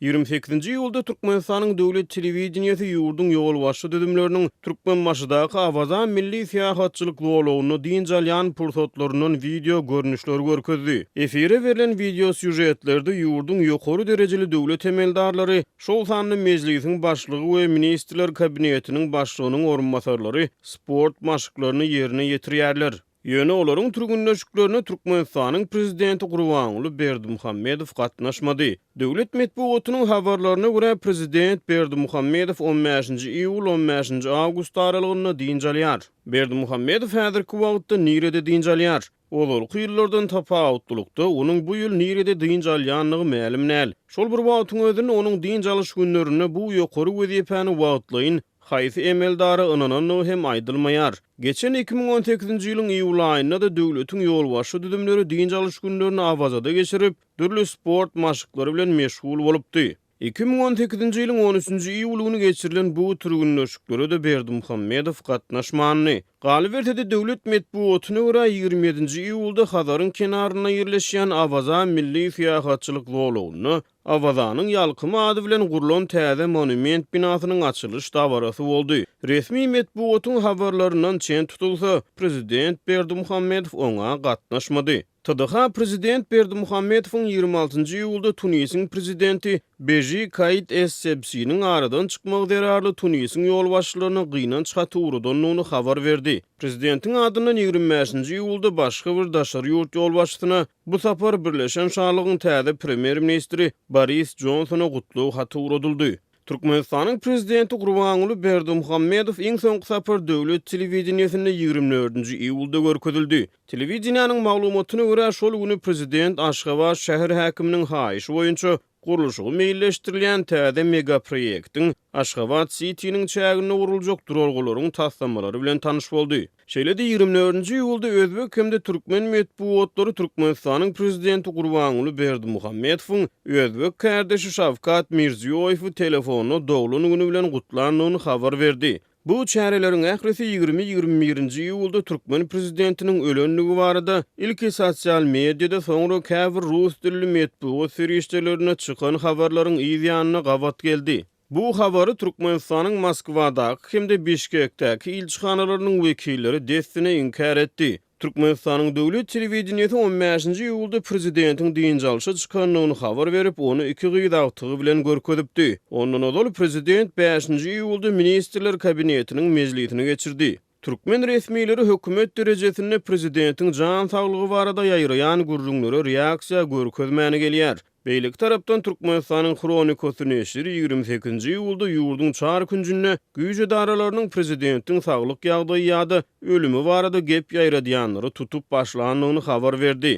Ýigrimi sekizinji iýulda Türkmenistanyň döwlet telewideniýesi ýurduň ýolbaşçy düzümleriniň Türkmenbaşydaky Awaza milli syýahatçylyk zolagynda dynç alýan pursatlaryndan wideo görnüşleri görkezdi. Efire berlen wideosýužetlerde ýurduň ýokary derejeli döwlet emeldarlary, şol sanda Mejlisiň Başlygy we Ministrler Kabinetiniň Başlygynyň orunbasarlary sport maşklaryny ýerine ýetirýärler. Ýöne olaryň türgenleşiklerine Türkmenistanyň Prezidenti Gurbanguly Berdimuhamedow gatnaşmady. Döwlet metbugatynyň habarlaryna görä, Prezident Berdimuhamedow on bäşinji iýul, on bäşinji awgust aralygynda dynç alýar. Berdimuhamedow häzirki wagtda nirede dynç alýar? Ozalky ýyllardan tapawutlylykda, onuň bu ýyl nirede dynç alýandygy mälim däl. Şol bir wagtyň özünde, onuň dynç alyş günlerinde bu ýokary wezipäni wagtlaýyn Haýsy emeldara ynanandygy hem aýdylmaýar. Geçen iki müň on sekizinji ýylyň iýul aýynda-da döwletiň ýolbaşçy düzümleri dynç alyş günlerini Awazada geçirip, dürli sport maşklary bilen meşgul bolupdy. Iki müň on sekizinji ýylyň on üçünji iýuly güni geçirilen bu türgenleşiklere-de Berdimuhamedow gatnaşmandy. Galyberse-de, döwlet metbugatyna görä, ýigrimi ýedinji iýulda Hazaryň kenarynda ýerleşýän Awaza milli syýahatçylyk zolagynda Awazanyň ýalkymy ady bilen gurlan täze monument binasynyň açylyş dabarasy boldy. Resmi metbugatyň habarlaryndan çen tutulsa, prezident Berdimuhamedow oňa gatnaşmady. TDH prezident Berdimuhamedowyň ýigrimi altynjy iýulda Tunisiň prezidenti Beži Kaid Es-Sebsiniň aradan çykmagy zerarly Tunisiň ýolbaşçylaryna gynanç haty ugradandygyny habar berdi. Prezidentiň adyndan ýigrimi bäşinji iýulda başga bir daşary ýurt ýolbaşçysyna Bu sapar Birleşen Şalygyň täze Premýer-ministri Boris Jonsona gutlag haty ugradyldy. Türkmenistanyň Prezidenti Gurbanguly Berdimuhamedow iň soňky sapar döwlet telewideniýesinde ýigrimi dördünji iýulda görkezildi. Telewideniýäniň maglumatyna görä, şol güni Prezident Aşgabat şäher häkiminiň haýyşy boýunça Gurluşygy meýilleşdirilýän täze megaproýektiň Aşgabat-Sitiniň çäginde guruljak duralgalaryň taslamalary bilen tanyş boldy. Şeýle-de ýigrimi dördünji iýulda özbek hem-de türkmen metbugatlary Türkmenistanyň Prezidenti Gurbanguly Berdimuhamedowyň özbek kärdeşi Şawkat Mirziýoýewi telefonda doglan güni bilen gutlandygyny habar berdi. Bu çäreleriň ählisi ýigrimi ýigrimi birinji iýulda türkmen prezidentiniň ölendigi barada ilki sosial mediada, soňra käbir rus dilli metbugat serişdelerinde çykan habarlaryň yz ýanyna gabat geldi. Bu habary Türkmenistanyň Moskwadaky hem-de Bişkekdäki ilçihanalarynyň wekilleri dessine inkär etdi. Türkmenistanyň döwlet telewideniýesi on bäşinji iýulda prezidentiň dynç alşa çykandygyny habar berip, ony iki gyz agtygy bilen görkezipdi. Ondan ozal prezident bäşinji iýulda Ministrler Kabinetiniň mejlisini geçirdi. Türkmen resmileri hökümet derejesinde prezidentiň jan saglygy barada ýaýraýan gürrüňlere reaksiýa görkezmäni gelýär. Beýleki tarapdan Türkmenistanyň Hronikasy neşiri ýigrimi sekizinji iýulda ýurduň çar künjünde güýç edaralarynyň prezidentiň saglyk ýagdaýy ýa-da ölümi barada gep ýaýradýanlary tutup başlandygyny habar berdi.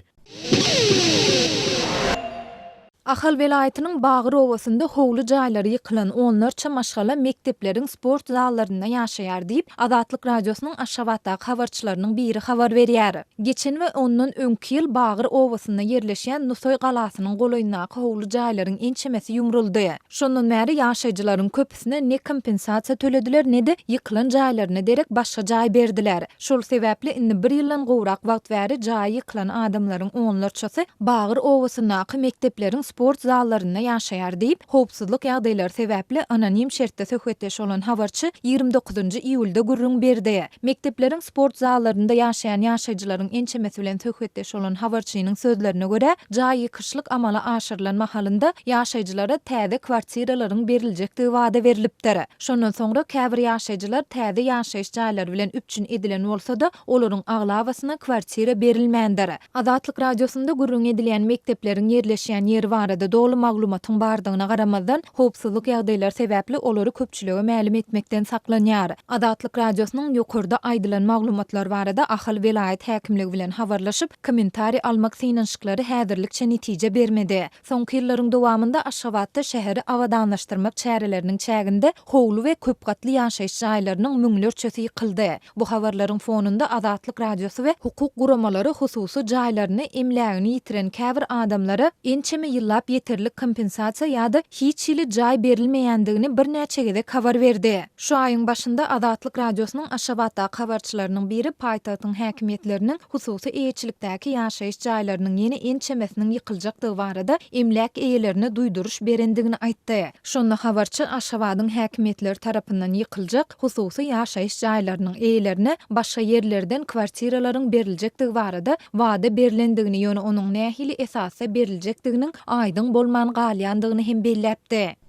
Ahal welaýatynyň Bagyr obasynda howly jaýlary ýykylan onlarça maşgala mekdepleriň sport zallarynda ýaşaýar diýip, Azatlyk Radiosynyň Aşgabatdaky habarçylarynyň biri habar berýär. Geçen we ondan öňki ýyl Bagyr obasynda ýerleşýän Nusaý galasynyň golaýyndaky howly jaýlaryň ençemesi ýumruldy. Şondan bäri ýaşaýjylaryň köpüsine ne kompensasiýa tölediler, ne-de ýykylan jaýlaryna derek başga jaý berdiler. Şol sebäpli indi bir ýyldan gowrak wagt bäri jaýy ýykylan adamlaryň onlarçasy Bagyr obasyndaky mekdepleriň sport zallarynda ýaşaýar diýip, howpsuzlyk ýagdaýlary sebäpli anonim şertde söhbetdeş bolan habarçy ýigrimi dokuzynjy iýulda gürrüň berdi. Mekdepleriň sport zallarynda ýaşaýan ýaşaýjylaryň ençemesi bilen söhbetdeş bolan habarçynyň sözlerine görä, jaý ýykyşlyk amala aşyrylan mahalynda ýaşaýjylara täze kwartiralaryň beriljekdigi wada berlipdir. Şondan soňra käbir ýaşaýjylar täze ýaşaýyş jaýlary bilen üpjün edilen bolsa-da, olaryň aglabasyna kwartira berilmändir. Azatlyk Radiosynda gürrüňi edilýän mekdepleriň ýerleşýän ýeri barada doly maglumatyň bardygyna garamazdan, howpsuzlyk ýagdaýlary sebäpli olary köpçülige mälim etmekden saklanýar. Azatlyk Radiosynyň ýokarda aýdylan maglumatlar barada Ahal welaýat häkimligi bilen habarlaşyp, kommentariý almak synanyşyklary häzirlikçe netije bermedi. Soňky ýyllaryň dowamynda Aşgabatda şäheri abadanlaşdyrmak çäreleriniň çäginde howly we köp gatly ýaşaýyş jaýlarynyň müňlerçesi ýykyldy. Bu habarlaryň fonunda Azatlyk Radiosy we hukuk guramalary hususy jaýlaryny, emlägini ýitiren käbir adamlara ençeme ýyllap ýeterlik kompensasiýa ýa-da hiç hili jaý berilmeýändigini birnäçe gezek habar berdi. Şu aýyň başynda Azatlyk Radiosynyň Aşgabatdaky habarçylarynyň biri paýtagtyň häkimiýetleriniň hususy eýeçilikdäki ýaşaýyş jaýlarynyň ýene ençemesiniň ýykyljakdygy barada emläk eýelerine duýduryş berendigini aýtdy. Şonda habarçy Aşgabadyň häkimiýetleri tarapyndan ýykyljak hususy ýaşaýyş jaýlarynyň eýelerine başga ýerlerden kwartiralaryň beriljekdigi barada wada berlendigini, ýöne onuň nähili esasda beriljekdiginiň aýdyň bolman galýandygyny hem belläpdi.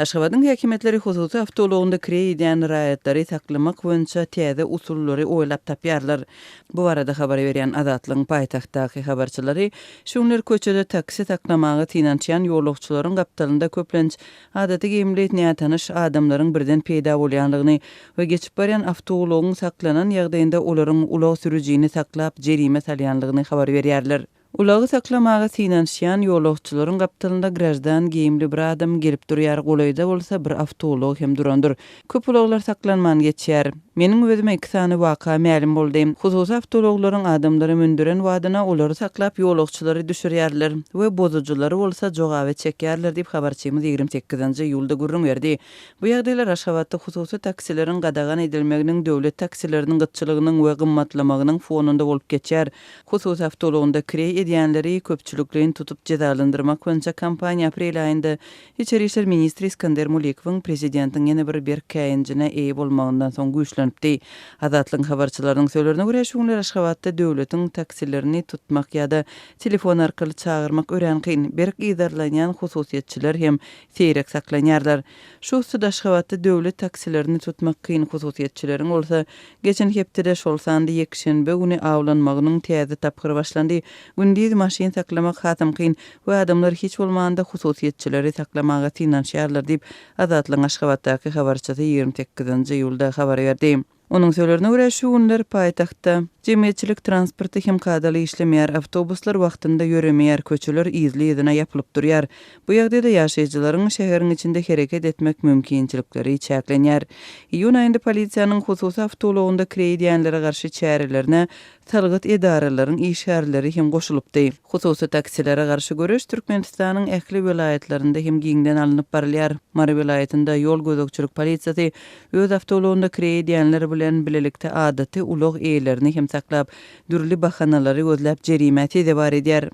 Aşgabadyň häkimiýetleri hususy awtoulagynda kireý edýän raýatlary saklamak boýunça täze usullary oýlap tapýarlar. Bu barada habar berýän Azatlygyň paýtagtdaky habarçylary şu günler köçede taksi saklamaga synanyşýan ýolagçylaryň gapdalynda köplenç adaty geýimli nätanyş adamlaryň birden peýda bolýandygyny we geçip barýan awtoulagyň saklanan ýagdaýynda olaryň ulag sürüjini saklap jerime salýandygyny habar berýärler. Ulagy saklamaga synanyşýan ýolagçylaryň gapdalynda graždan geýimli bir adam gelip durýar, golaýda bolsa bir awtoulag hem durandyr. Köp ulaglar saklanman geçýär. Meniň özüme iki sany waka mälim boldy. Hususy awtoulaglaryň adamlary mündüren badyna olary saklap ýolagçylary düşürýärler we bozujylary bolsa jogaba çekýärler diýip habarçymyz ýigrimi sekizinji iýulda gürrüň berdi. Bu ýagdaýlar Aşgabatda hususy taksileriň gadagan edilmeginiň döwlet taksileriniň gytçylygynyň we gymmatlamagynyň fonunda bolup geçýär. Hususy awtoulagynda kireý edýänleri köpçülikleýin tutup jezalandyrmak boýunça kampaniýa aprel aýynda Içeri işler ministri Iskandeer Mulikowyň prezidentiň ýene bir berk käýinjine eýe bolmagyndan soň güýçlenipdi. Azatlygyň habarçylarynyň sözlerine görä, şu günler Aşgabatda döwletiň taksilerini tutmak ýa-da telefon arkaly çagyrmak örän kyn, berk yzarlanýan hususyýetçiler hem seýrek saklanýarlar. Şu ussat Aşgabatda döwlet taksilerini tutmak kyn, hususyýetçileriň bolsa, geçen hepdede, şol sanda ýekşenbe güni awlanmagynyň täze tapgyry başlandy. Gündiz maşyn saklamak hasam kyn we adamlar hiç bolmanda hususyýetçileri saklamaga synanyşýarlar diýip, Azatlygyň Aşgabatdaky habarçysy ýigrimi sekizinji iýulda habar berdi. Onuň sözlerine görä, şu günler paýtagtda jemgyýetçilik transporty hem kadaly işlemeýär, awtobuslar wagtynda ýöremeýär, köçeler yzly-yzyna ýapylyp durýar. Bu ýagdaýda ýaşaýjylaryň şäheriň içinde hereket etmek mümkinçilikleri çäklenýär. Iýun aýynda polisiýanyň hususy awtoulagynda kireý edýänlere garşy çärelerine Salgyt edaralaryň işgärleri hem goşulypdy. Hususy taksilere garşy göreş Türkmenistanyň ähli welaýatlarynda hem giňden alnyp barylýar. Mary welaýatynda ýol gözegçilik polisiýasy öz awtoulagynda kireý edýänler bilen bilelikde adaty ulag eýelerini hem saklap, dürli bahanalary gözläp jerimä sezewar edýär.